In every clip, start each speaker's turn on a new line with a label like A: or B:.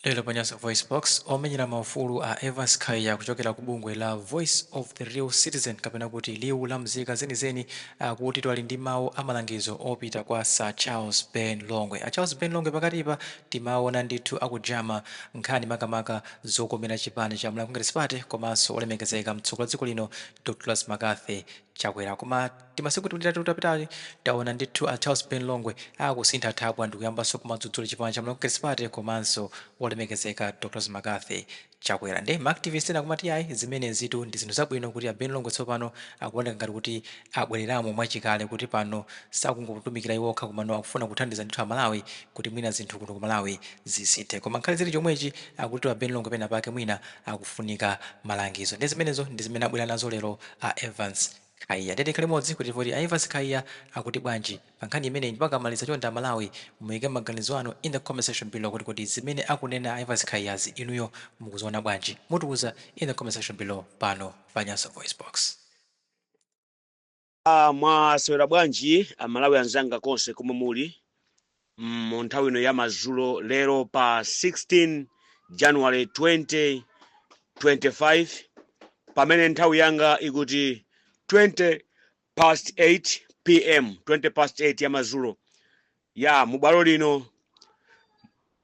A: Lero pa Nyasa VoiceBox, omenyera maufulu a Evans Khaya kuchokera ku bungwe la Voice of the Real Citizen kapena kuti Liwu la Mzika Zenizeni akutitu ali ndi mawu a malangizo opita kwa Sir Charles Ben Longwe. A Charles Ben Longwe pakatipa timaona ndithu akujama nkhani makamaka zokomera chipani cha Malawi Congress Party komanso olemekezeka mtsogoleri wa dziko lino Dr Lazzy Mccarthy Chakwera. Koma Timasiku tiwiri titatu tapitati taona ndithu a Charles Ben Longwe akusintha thabwa ndikuyambanso kumadzudzula chipani cha Malawi Congress Party komanso wolemekezeka Dr Mccarthy Chakwera nde ma activist ena akumati iyayi zimenezitu ndi zinthu zabwino kuti a Ben Longwe tsopano akuoneka ngati kuti abwereramo mwachikale kuti pano sakungotumikira iwo okha komano akufuna kuthandiza ndithu a Malawi kuti mwina zinthu kuno ku Malawi zisinthe koma nkhale zili chomwechi akutitu a Ben Longwe penapake mwina akufunika malangizo nde zimenezo ndi zimene abwera nazo lero a Evans Khaya nde tikhale limodzi kuti kodi a Evans Khaya akuti bwanji pa nkhani imeneyi ndipo akamaliza chonde a Malawi muike maganizo anu in the comment section below kuti kodi zimene akunena a Evans Khayazi inuyo mukuziona bwanji? Mutiuza in the comment section below pano pa Nyasa
B: VoiceBox. Mwaswera bwanji a Malawi anzanga konse komwe muli? mu nthawi ino ya madzulo lero pa 16 january 2025 pamene nthawi yanga ikuti 20 past 8 pm 20 past 8 ya madzulo ya mu bwalo lino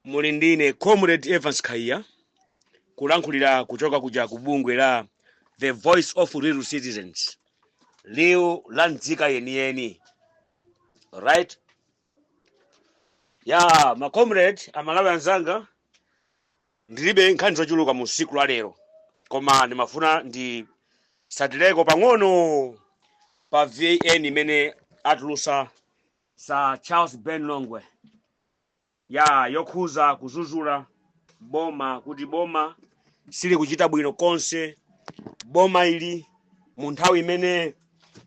B: muli ndine comrade evans khaya kulankhulira kuchoka kuja ku bungwe la the voice of real citizens liwu la nzika yeniyeni right ya ma comrade amalawi anzanga ndilibe nkhani zochuluka mu siku la lero koma ndimafuna nditsatireko pang'ono pa vn imene atulusa sir charles ben longwe ya yokhuza kuzuzula boma kuti boma sili kuchita bwino konse boma ili mu nthawi imene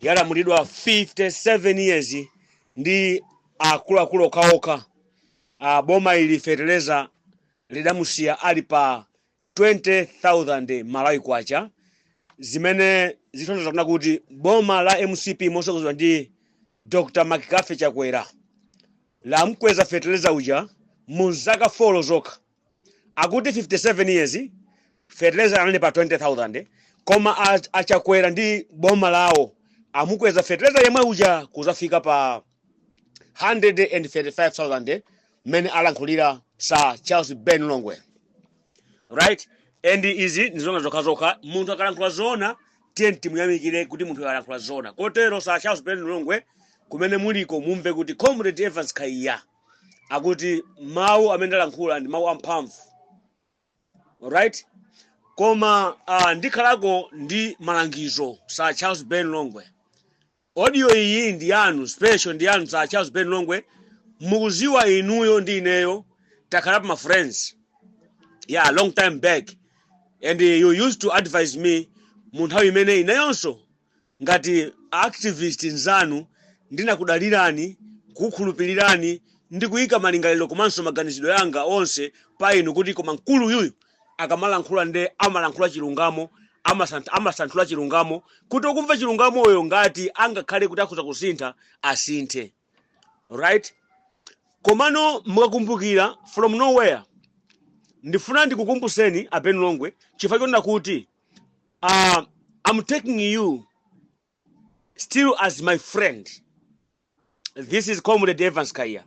B: yalamulidwa 57 years ndi akuluakulu okhaokha uh, boma ili feteleza lidamusiya ali pa 20000 malawi kwacha zimene zikutanthauza kunena kuti boma la mcp mosogozedwa ndi dr mccarthy chakwera lamkweza feteleza uja mu zaka folo zokha Akuti 57 years fertilizer anali pa 20000 koma a, a Chakwera ndi boma lawo amukweza fertilizer yemwe uja kuzafika pa 135000 mmene alankhulira sir Charles Ben Longwe right and izi ndi zoona zokhazokha munthu akalankhula zoona tiye timuyamikire kuti munthu akalankhula zoona kotero sir Charles Ben Longwe kumene muliko mumve kuti comrade Evans Khaya akuti mawu amene ndalankhula ndi mawu amphamvu right koma uh, ndikhalako ndi malangizo sir charles ben longwe audio iyi ndi yanu special ndi yanu sir charles ben longwe mukuziwa inuyo ndi ineyo takhalapo ma friends yeah long time back and uh, you used to advise me mu nthawi imene ineyonso Ngati a activist nzanu ndinakudalirani, kukhulupilirani ndi kuika malingaliro komanso maganizidwe anga onse pa inu kuti koma mkulu uyuyu akamalankhula nde amalankhula chilungamo, amasanthula chilungamo kuti okumva chilungamoyo ngati angakhale kuti akhoza kusintha asinthe right. Komano mukakumbukira from nowhere ndifuna ndikukumbuseni a Ben Longwe chifukwa chonena kuti uh, I'm taking you still as my friend. This is Comrade Evans Khaya.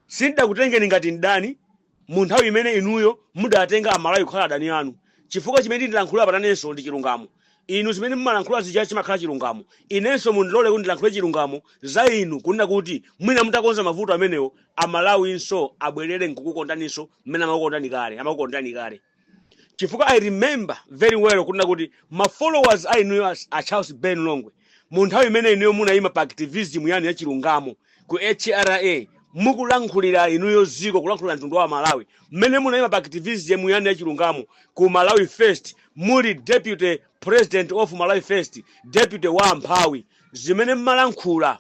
B: Sindakutengeni ngati mdani mu nthawi imene inuyo mudatenga amalawi kukhala adani anu chifukwa chimene ndilankhula patanenso ndi chilungamo inu zimene mumalankhula zija chimakhala chilungamo inenso mundilole kuti ndilankhule chilungamo za inu kunena kuti mwina mutakonza mavuto amenewo amalawinso abwerere nkukukondaninso mmene amakukondani kale amakukondani kale chifukwa i remember very well kunena kuti ma followers a inuyo as- a charles ben longwe mu nthawi imene inuyo munayima pa activism yanu ya chilungamo ku hra mukulankhulira inuyo ziko kulankhulira mtundu wa amalawi mmene munayima pa activism yanu ya chilungamo ku malawi first muli deputy president of malawi first deputy wa amphawi zimene mmalankhula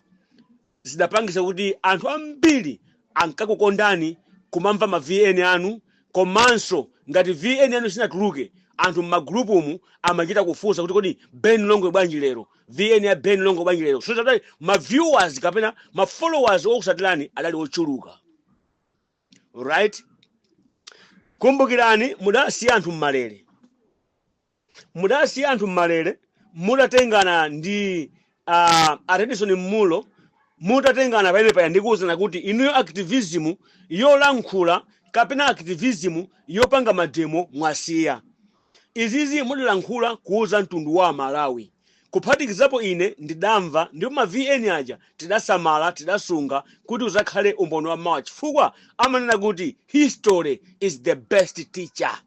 B: zidapangisa kuti anthu ambiri ankakukondani kumamva ma VN anu komanso ngati VN yanu sinatuluke anthu mma group umu amachita kufunsa kuti kodi Ben Longwe bwanji lero VN ya Ben Longwe bwanji lero so that ma viewers kapena ma followers okusatirani adali ochuluka right kumbukirani mudasiya anthu mmalere Mudasiya anthu m'malele mudatengana ndi a a Redison Mmulo mutatengana pa inepa ndi kuuzana kuti inuyo activism yolankhula kapena activism yopanga mademo mwasiya. Izizi mudalankhula kuuza mtundu wa Amalawi kuphatikizapo ine ndidamva ndipo ma VN aja tidasamala, tidasunga kuti uzakhale umboni wa mawa chifukwa amanena kuti history is the best teacher.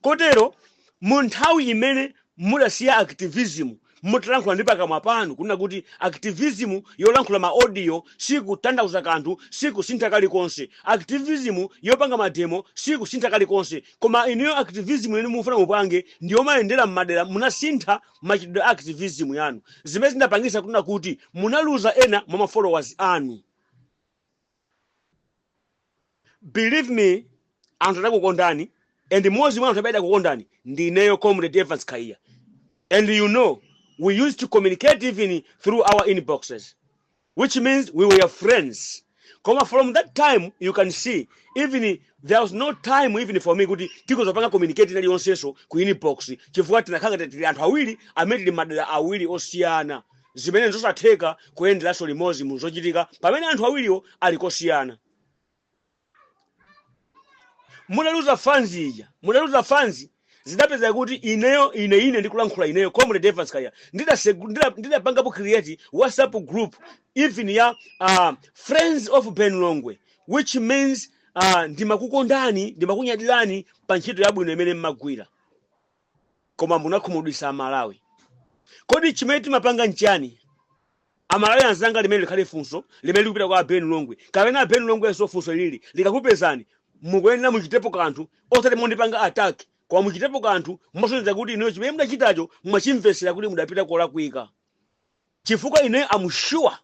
B: kotero mu nthawi imene mudasiya activism mutalankhula ndi pakamwa panu kunena kuti activism yolankhula ma audio sikutanthauza kanthu sikusintha kalikonse activism yopanga mademo sikusintha kalikonse koma ineyo activism imene mufuna mupange ndi yomayendera m'madera munasintha machitidwe a activism yanu zimene zinapangisa kunena kuti munaluza ena mwa ma followers anu believe me anthu adakukondani and mmodzi mwa anthu amene adakukondani ndi ineyo comrade evans Kaya and you know we used to communicate even through our inboxes which means we were friends koma from that time you can see even there was no time even for me kuti tikhoza kupanga communicate ina iliyonsenso ku inbox chifukwa tinakhala ngati tili anthu awiri amene tili madera awiri osiyana zimene n'zosatheka kuyenderanso limodzi mu zochitika pamene anthu awiriwo ali kosiyana. Mudaluza fans ija, mudaluza fans zidapezeka kuti ineyo ine ine ndikulankhula ineyo comrade Evans Kaya ndidasegu- ndida- ndidapangapo create WhatsApp group even ya uh, friends of Ben Longwe which means uh, ndimakukondani ndimakunyadirani pa ntchito yabwino imene mmagwira koma munakhumudwisa amalawi kodi chimene timapanga nchani amalawi anzanga limene likhale funso limene likupita kwa aben longwe kapena aben longwenso funso lili likakupezani mukuyenera muchitepo kanthu osati mondipanga attack koma muchitepo kanthu mosonyeza kuti inuyo chimene mudachitacho mwachimvesera kuti mudapita kolakwika chifukwa ine am sure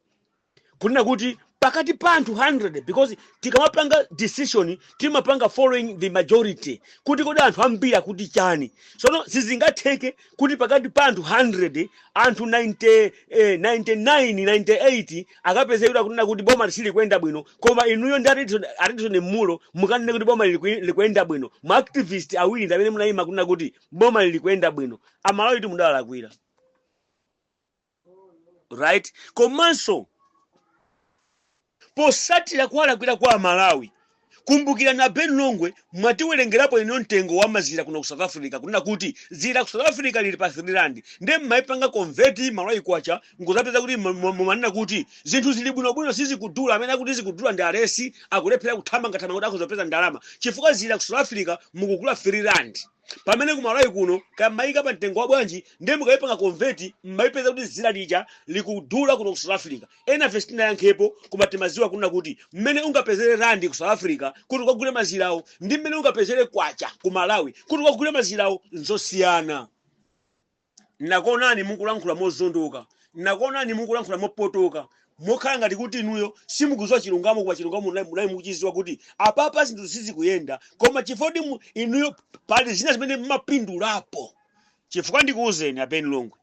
B: kunena kuti pakati pa anthu 100 because tikamapanga decision timapanga following the majority kuti kodi anthu ambiri akuti chani sono sizingatheke kuti pakati pa anthu 100 anthu 90, eh, 99 98 akapeze kuti akunena kuti boma silikuyenda bwino koma inuyo ndi a Redson- a Redson Munlo mukanene kuti boma likuy- likuyenda bwino ma activist awiri ndi amene munayima kunena kuti boma lilikuyenda bwino amalawitu mudawalakwira right komanso posatira kuwalakwira kwa amalawi kumbukirani a ben longwe mwatiwerengerapo inu mtengo wa mazira kuno ku south africa kunena kuti dzira ku south africa lili pa 3 rand nde mmaipanga convert malawi kwacha nkuzapeza kuti mu- mu- mumanena kuti zinthu zili bwinobwino sizikudula amene akuti zikudula ndi aulesi akulephera kuthamangathamanga kuti akhoza kupeza ndalama chifukwa dzira ku south africa mukugula 3 rand pamene ku malawi kuno kaya mmayika pa mtengo wabwanji ndiye mukayipanga convert mmayipeza kuti dzira lija likudula kuno ku south africa enafe sitinayankhepo koma timaziwa kunena kuti mmene ungapezere randi ku south africa kuti ukagule mazirawo ndi mmene ungapezere kwacha ku malawi kuti ukagule mazirawo nzosiyana Ndinakuonani mukulankhula mozondoka, ndinakuonani mukulankhula mopotoka, mokhala ngati kuti inuyo simukuziwa chilungamo koma chilungamo munali munali mukuchiziwa kuti apapa zinthu sizikuyenda koma chifukwa kuti mu- inuyo pali zina zimene mmapindulapo chifukwa ndikuwuzeni a Ben Longwe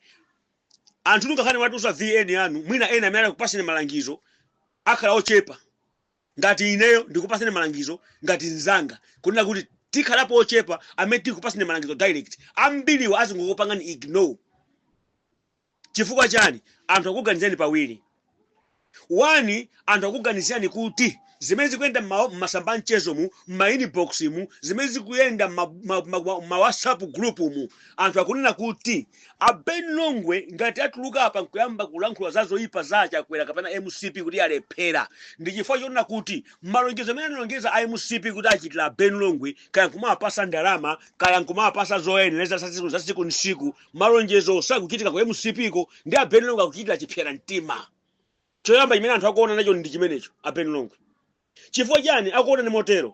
B: anthu tungakhale mwatusa VN yanu mwina ena amene akupaseni malangizo akhala ochepa Ngati ineyo ndikupaseni malangizo ngati nzanga kunena kuti tikhalapo ochepa amene tikupaseni malangizo direct ambiriwa azingokupangani ignore chifukwa chani anthu akuganizirani pawiri one anthu akuganizirani kuti zimene zikuyenda m'ma- m'masamba a mchezo mu m'ma inbox mu zimene zikuyenda m'ma- ma- ma- ma- ma whatsapp group mu anthu akunena kuti A Ben Longwe ngati atuluka apa nkuyamba kulankhula zazoipa za a Chakwera kapena mcp kuti yalephera ndi chifukwa chonena kuti malonjezo amene analonjeza a mcp kuti achitira a Ben Longwe kaya nkumawapasa ndalama kaya nkumawapasa zoyenereza za tsiku ndi tsiku malonjezowo sakuchitika ku mcp ko ndiye a Ben Longwe akuchitira chipsera mtima choyamba chimene anthu akuonani nacho ndi chimenecho a Ben Longwe Chifukwa chani akuonani motero?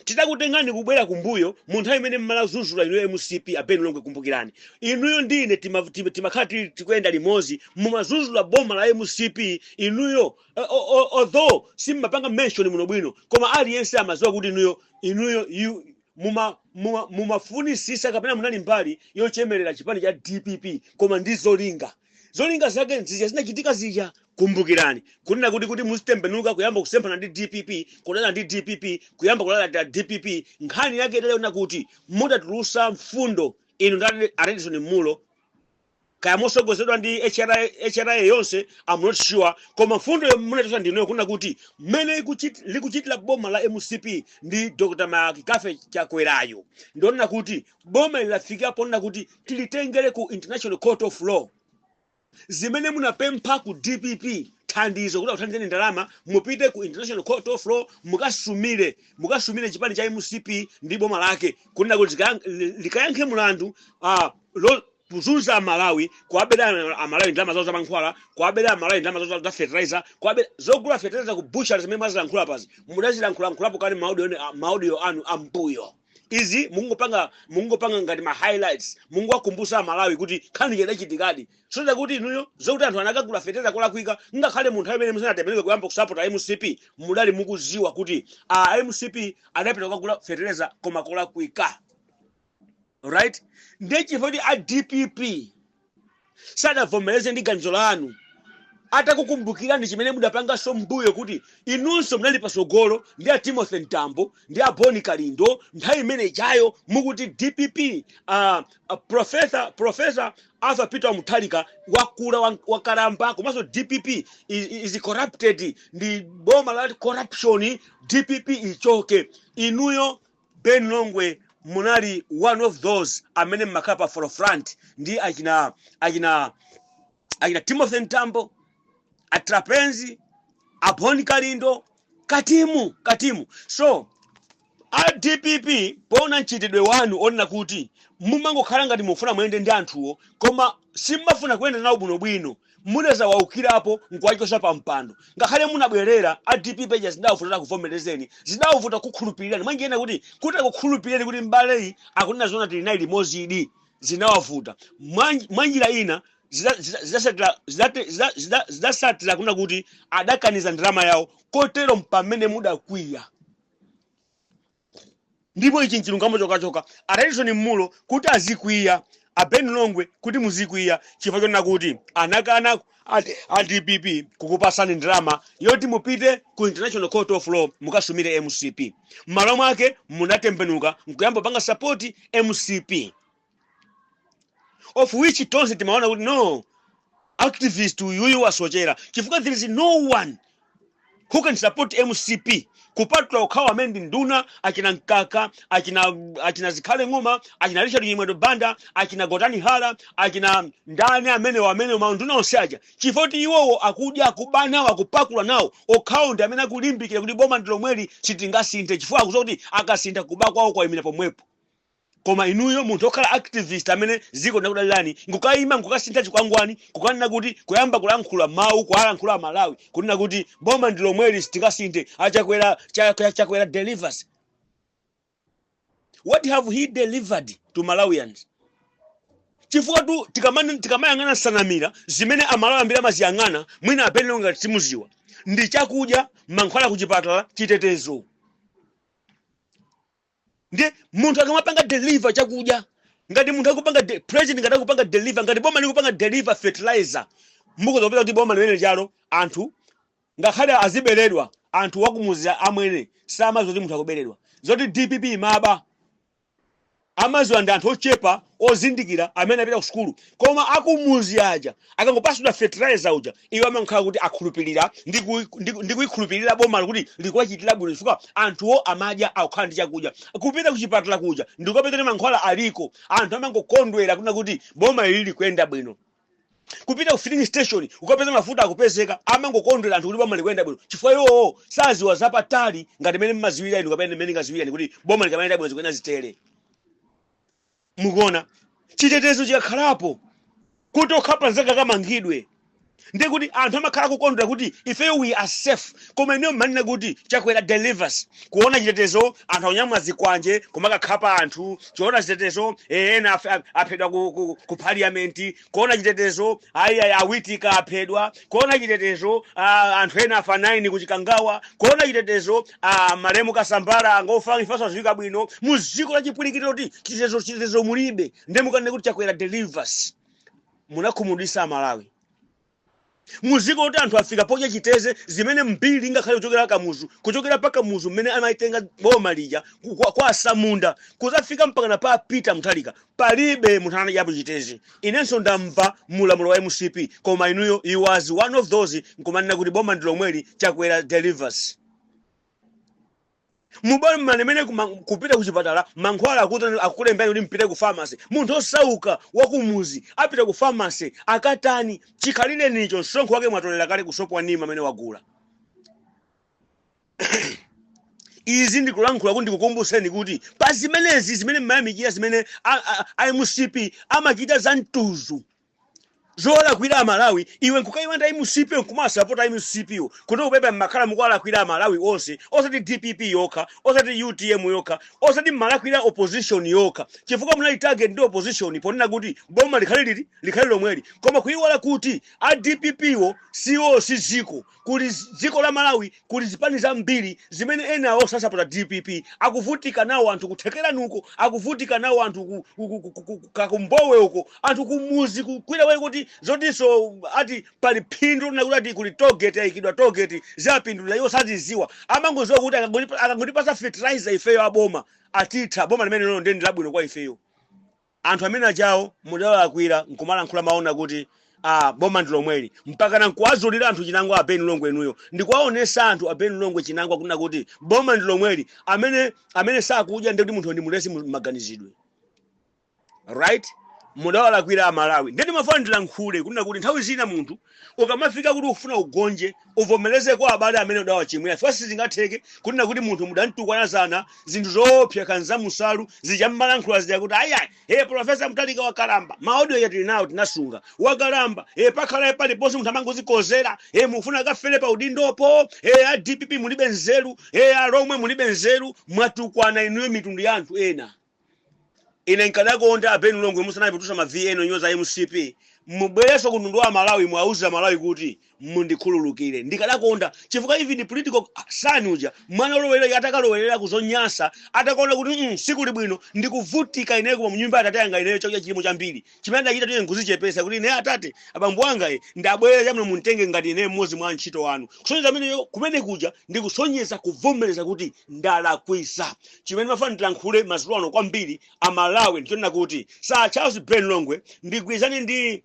B: Titakutengani kubwera kumbuyo mu nthawi imene mmalazuzula inuyo mcp a Ben Longwe kumbukirani inuyo ndi ine tima, tima, timakhala tili tikuyenda limozi mumazuzula boma la mcp inuyo eh, o- o- although simmapanga mention bwinobwino koma aliyense amaziwa kuti inuyo inuyo you, muma muma mumafunisisa kapena munali mbali yochemerera chipani cha dpp koma ndi zolinga zolinga zake zija zinachitika zija kumbukirani kunena kuti kuti muzitembenuka kuyamba kusemphana ndi dpp kudana ndi dpp kuyamba kulalatira dpp nkhani yake idali yonena kuti mudatulusa mfundo inu ndi a Redson Munlo kaya mosogozedwa ndi HRA HRA yonse I'm not sure koma mfundo munatulusa ndiyoyo kunena kuti mmene ikuchit- likuchitira boma la mcp ndi dr McCarthy Chakwerayo ndionena kuti boma ili lafikira ponena kuti tilitengere ku international court of law zimene munapempha ku dpp thandizo kuti akuthandizeni ndalama mupite ku international court of law mukasumire mukasumire chipani cha mcp ndi boma lake kunena kuti zika- li- likayankhe mulandu ah, lo- kuzunza amalawi kuwabera amalawi ndalama zawo zamankhwala kuwabera amalawi ndalama zawo za fertilizer kuwabera zogula fertilizer ku butchery zimene mwazilankhula apazi mudazilankhulankhulapo kale maudio anu ambuyo izi mukungopanga mukungopanga ngati ma highlights mukungowakumbusa amalawi kuti nkhani idachitikadi kusonyeza kuti inuyo zokuti anthu anakagula feteza kolakwika ngakhale mu nthawi imene musanatembenuke kuyamba kusapota mcp mudali mukuziwa kuti a mcp adapita kukagula fetereza koma kolakwika right ndiye chifukwa kuti a dpp sadavomereze ndi ganizo lanu atakukumbukirani chimene mudapanganso m'mbuyo kuti inunso munali patsogolo ndi a timothy mtambo ndi a boni kalindo nthawi imene ijayo mukuti dpp uh, uh, profesa profesa arthur peter Mutharika wakula wa- wakalamba komanso dpp is, is corrupted ndi boma la corruption dpp ichoke inuyo Ben Longwe munali one of those amene mmakhala pa forefront ndi achina achina achina Timothy Mtambo, a Trapence, a Boni Kalindo, Katimu, Katimu. So a dpp poona mchitidwe wanu onena kuti mumangokhala ngati mufuna muyende ndi anthuwo koma simumafuna kuyenda nawo bwinobwino Mudazawaukirapo nkuwachotsa pa mpando. Ngakhale munabwerera, a dpp aja zidawavuta kuti akuvomerezeni. Zidawavuta kukukhulupirirani. Mwa njira ina kuti kuti akukhulupirireni kuti m'baleyi akunena zoona tili naye limozidi. Zinawavuta. Mwa mwa njira ina zida zida zidasatira zidate zida zida zidasatira kunena kuti adakaniza ndalama yawo kotero mpamene mudakwiya. ndipo ichi nchilungamo chokachoka atayishoni mmalo kuti azikwiya a ben longwe kuti muzikwiya chifukwa chonena kuti anakana a dpp kukupasani ndalama yoti mupite ku international court of law mukasumire mcp mmalo mwake munatembenuka nkuyamba kupanga sapoti mcp of which tonse timaona kuti no activist uyuyu wasochera chifukwa there is no one who can support mcp kupatula okhawo amene ndi nduna achina mkaka achina achina zikhale ng'oma achina richard chimwendo banda achina gotani hara achina ndani amenewo amenewo maunduna onse aja chifukwa choti iwowo akudya akuba nawo akupakula nawo okhawo ndi amene akulimbikira kuti boma ndi lomweli sitingasinthe chifukwa akudziwa kuti akasintha kuba kwawo kwayimira pomwepo Koma inuyo munthu okhala activist amene ziko linakudalirani nkukayima nkukasintha chikwangwani kukanena kuti kuyamba kulankhula mawu kuwalankhula amalawi kunena kuti boma ndilomweli sitingasinthe achakwera cha chakwera delivers what have he delivered to malawians chifukwatu tikamane- tikamayang'ana nsanamira zimene amalawi ambiri amaziyang'ana mwina a Ben Longwe ngati simudziwa ndi chakudya mankhwala kuchipatala chitetezo ndiye munthu akamapanga deliver chakudya ngati munthu akupanga de- president ngati akupanga deliver ngati boma likupanga deliver fertilizer mukazapeza kuti boma limene ijalo anthu ngakhale aziberedwa anthu wakumudzi amwene samaziwa kuti munthu akuberedwa zoti dpp imaba amaziwa ndi anthu ochepa ozindikira amene apita ku sukulu Koma akumudzi aja akangopatsidwa fertilizer uja iwo amankhala kuti akhulupirira ndi ku ndi ku ndi kuikhulupirira bomalo kuti likuwachitira bwino chifukwa anthuwo amadya akukhala ndi chakudya kupita kuchipatala kuja ndikukapeza kuti mankhwala aliko anthu amangokondwera kunena kuti boma ili likuyenda bwino kupita ku filling station kukapeza mafuta akupezeka amangokondwera anthu kuti boma likuyenda bwino chifukwa iwowo sadziwa zapatali ngati mene mmadziwira inu kapena mene ndingadziwire ine kuti boma likamayenda bwino zikuyenera zitere Mukuona, chitetezo chikakhalapo kuti okhapa mnzake akamangidwe, ndiye kuti anthu amakhala kukondwera kuti ifeyo we are safe, koma inuyo mmanena kuti Chakwera delivers, kuona chitetezo anthu akunyamula zikwanje kumakakhapa anthu, kuona chitetezo eh, ena afe- a- aphedwa ku, ku, ku parliament Kuona chitetezo a a a Witika aphedwa, kuona chitetezo a anthu ena afa 9 ku Chikangawa, kuona chitetezo a malemu Kasambara angofa imfa yosadziwika bwino mu dziko la chipwirikiti loti chitetezo chitetezo mulibe nde nkukanena kuti Chakwera delivers munakhumudwitsa a Malawi. Mu dziko loti anthu afika podya chiteze zimene mbiri ngakhale kuchokera Kamuzu kuchokera pa Kamuzu mmene amaitenga boma lija ku- kwa, kwa Atsamunda kudzafika mpakana pa Peter Mutharika palibe munthu anadyapo chiteze. Inenso ndamva mulamulo wa MCP koma inuyo you was one of those nkumanena kuti boma ndi lomweli Chakwera delivers. M'boma limene mene kupita kuchipatala mankhwala akuti akukulembelani kuti mpite ku pharmacy. Munthu osauka wakumudzi apita ku pharmacy akatani? Chikhalirenicho msonkho wake mwatolera kale ku sopo wa Nima amene wagula. Izi ndikulankhula kuti ndikukumbutseni kuti pa zimenezi zimene mmayamikira zimene a, a, a MCP amachita za mtudzu zolakwira aMalawi iwe nkukaiwala MCP nkumasapota MCP yo kuti upepe mmakhala mukuwalakwira aMalawi onse osati DPP yokha osati UTM yokha osati mmalakwira opposition yokha chifukwa munali target ndi opposition ponena kuti boma likhale liti likhale lomweli koma kuiwala kuti a DPP wo siwo si dziko Kuli dziko la Malawi kuli zipani zambiri zimene enawo sasapota DPP akuvutika nawo anthu ku Thekerani uko akuvutika nawo anthu ku, ku, ku, ku, ku, ku Kakumbowe uko anthu ku mudzi ku- kwina kwake kuti zotinso ati pali phindu lina kuti ati kuli toll gate yayikidwa toll gate zapindulira iwo sazidziwa amangodziwa kuti akangoti- akangotipatsa fertilizer ifeyo aboma atitha boma limene lino ndi ndi labwino kwa ifeyo Anthu amene aja awo mudawalakwira nkumalankhula mawu onena kuti aah boma ndi lomweli mpakana nkuwazulira anthu chinangwa a Ben Longwe inuyo ndi kuwaonetsa anthu a Ben Longwe chinangwa kunena kuti boma ndi lomweli amene amene sakudya ndiye kuti munthu ndi mulesi mu maganizidwe right mudawalakwira a Malawi ndiye ndimafuna ndilankhule kunena kuti nthawi zina munthu Ukamafika kuti ufuna ugonje, uvomereze kwa abale amene udawachimwira chifukwa sizingatheke kunena kuti munthu mudamtukwana zana zinthu zoopsa nkhanza musalu zija mmalankhula zija kuti ayai ee Professor Mutharika wakalamba, ma audio aja tili nawo tinasunga, wakalamba ee pakhalaye paliponse munthu amangozikozera ee mufuna akafere pa udindopo ee a dpp mulibe nzeru ee alomwe mulibe nzeru mwatukwana inuyo mitundu ya anthu ena. Ine nkadakonda a Ben Longwe musanayambe kutulutsa ma VN onyoza mcp mubwerenso ku mtundu wa amalawi muwauze amalawi kuti mundikhululukire. Ndikadakonda chifukwa even prodigal son uja mwana olowelera uja atakalowerera ku zonyansa atakaona kuti mm sikuli bwino ndikuvutika ineyo koma munyumba ya atate anga ineyo chakudya chilimo chambiri chimene adachita ndiye nkuzichepesa kuti ine atate abambo anga e ndabwera chabwino muntenge ngati ine mmodzi mwa antchito anu kusonyeza ameneyo kumene kuja ndi kusonyeza kuvomereza kuti ndalakwisa chimene mmafuna ndilankhule mazulo ano kwambiri amalawi ndichonena kuti sir charles ben longwe ndigwirizane ndi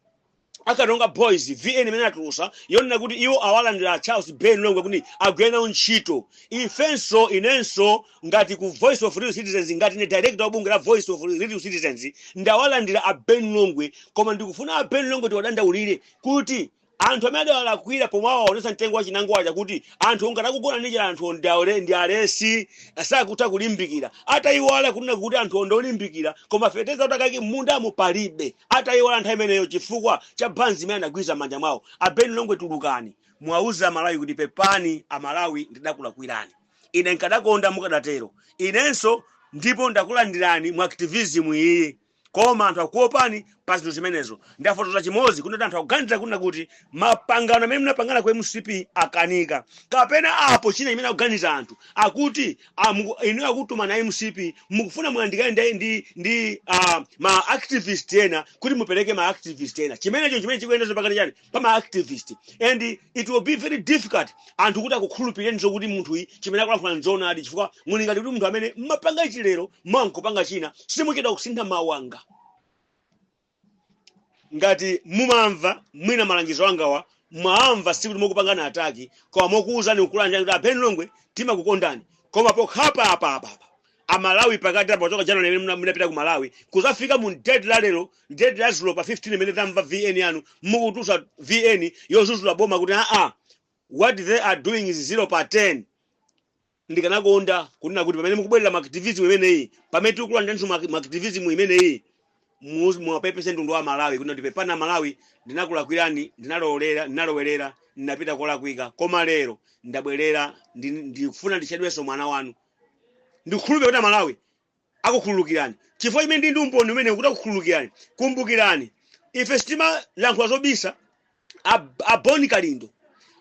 B: a karonga boys vn imene atulusa yonena kuti iwo awalandira charles ben longwe kuti agwire nawo ntchito ifenso inenso ngati ku voice of real citizens ngati ne director wa bungwe la voice of real citizens ndawalandira a ben longwe koma ndikufuna a ben longwe tiwadandaulire kuti anthu amene adawalakwira pomwe awaonesa mtengo wa chinango waja kuti anthu ngati akugona ndi njala anthu ndi aule- ndi alesi sakutha kulimbikira atayiwala kunena kuti anthu ndi olimbikira koma feteza kuti akaike m'mundamo palibe atayiwala nthawi imeneyo chifukwa cha banzi imene anagwira manja mwawo a ben longwe tulukani muwauze amalawi kuti pepani amalawi ndidakulakwirani Ine nkadakonda mukadatero. Inenso ndipo ndakulandirani mu activism iyi koma anthu akukuopani pa zinthu zimenezo. Ndafotoza chimodzi kunena kuti anthu akuganiza kunena kuti mapangano amene munapangana ku mcp akanika kapena apo china chimene akuganiza anthu akuti ah, muku- inu akutumani a mcp mukufuna muyandikane ndi, ndi, ndi ah, ma activist ena kuti mupereke ma activist ena chimenecho chimene chikuyendazo pakati chani pama activist and it will be very difficult anthu kuti akukhulupirireni zokuti munthuyu chimene akulankhula nzoonadi chifukwa muli ngati kuti munthu amene mmapanga ichi lero mawa nkupanga china simuchedwa kusintha mawu anga ngati mumamva mwina malangizo angawa mwawamva sikuti mokupangana ataki koma mokuwuzani kukulangizani kuti a ben longwe timakukondani koma pokhapa apa apa apa amalawi pakati apa kuchoka january imene muna- munapita ku malawi kuzafika mu date la lero date la dzulo pa 15 imene tamva vn yanu mukutulutsa vn yozuzula boma kuti aa what they are doing is zero pa 10 ndikanakonda kunena kuti pamene mukubwerera mu activism imeneyi pamene tikukulandiraninso mu activism imeneyi mu- muwapepese mtundu wa malawi kuti kuti pepani amalawi ndinakulakwirani ndinalowelera ndinalowerera ndinapita kolakwika koma lero ndabwerera ndi- ndikufuna nditchedwenso mwana wanu ndikukhulupirira kuti amalawi akukhululukirani chifukwa chimene ndi ndi umboni umenewu kuti akukhululukirani kumbukirani ife sitimalankhula zobisa a, a boni kalindo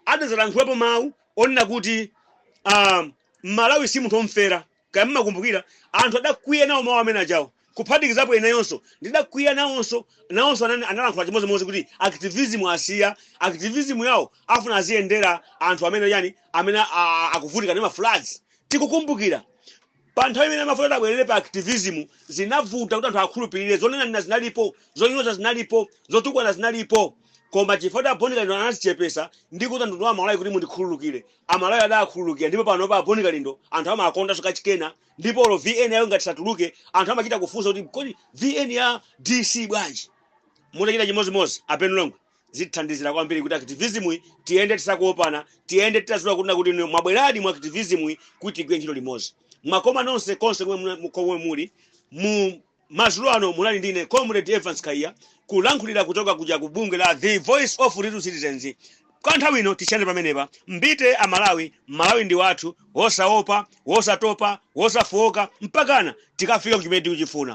B: adazalankhulapo mawu onena kuti um, mmalawi si munthu omfera kaya mmakumbukira anthu adakwiya nawo mawu amene ajawo kuphatikizapo ineyonso ndidakwiya nawonso nawonso anani analankhula chimodzimodzi kuti activism asiya activism yawo afuna aziyendera anthu amene yani amene a- a- akuvutika ndi mafloods tikukumbukira pa nthawi imene amafuna kuti abwerere pa activism zinavuta kuti anthu akhulupirire zonena zinalipo zonyoza zinalipo zotukwana zinalipo koma chifukwa a boni kalindo anazichepesa ndi kuti anthu amalawi kuti mundikhululukire amalawi adakhululukira ndipo pano pa boni kalindo anthu amawakondanso kachikena ndipo olo vn yawo ngati satuluke anthu amachita kufunsa kuti kodi vn ya dc bwanji mutachita chimodzimodzi a ben longwe zithandizira kwambiri kuti activism yi tiyende tisakuwopana tiyende titaziwa kuti mwabweradi mu activism yi kuti tigwire ntchito limodzi mwakoma nonse konse komwe muna- komwe muli mu Madzulo ano munali ndi ine Comrade Evance Khaiya kulankhulira kuchoka kuja ku bungwe la The Voice of Little Citizens. Kwa nthawi ino tisiyane pamenepa. Mbite a Malawi, Malawi ndi wathu, wosaopa, wosatopa, wosafooka mpakana tikafika ku chimene tikuchifuna.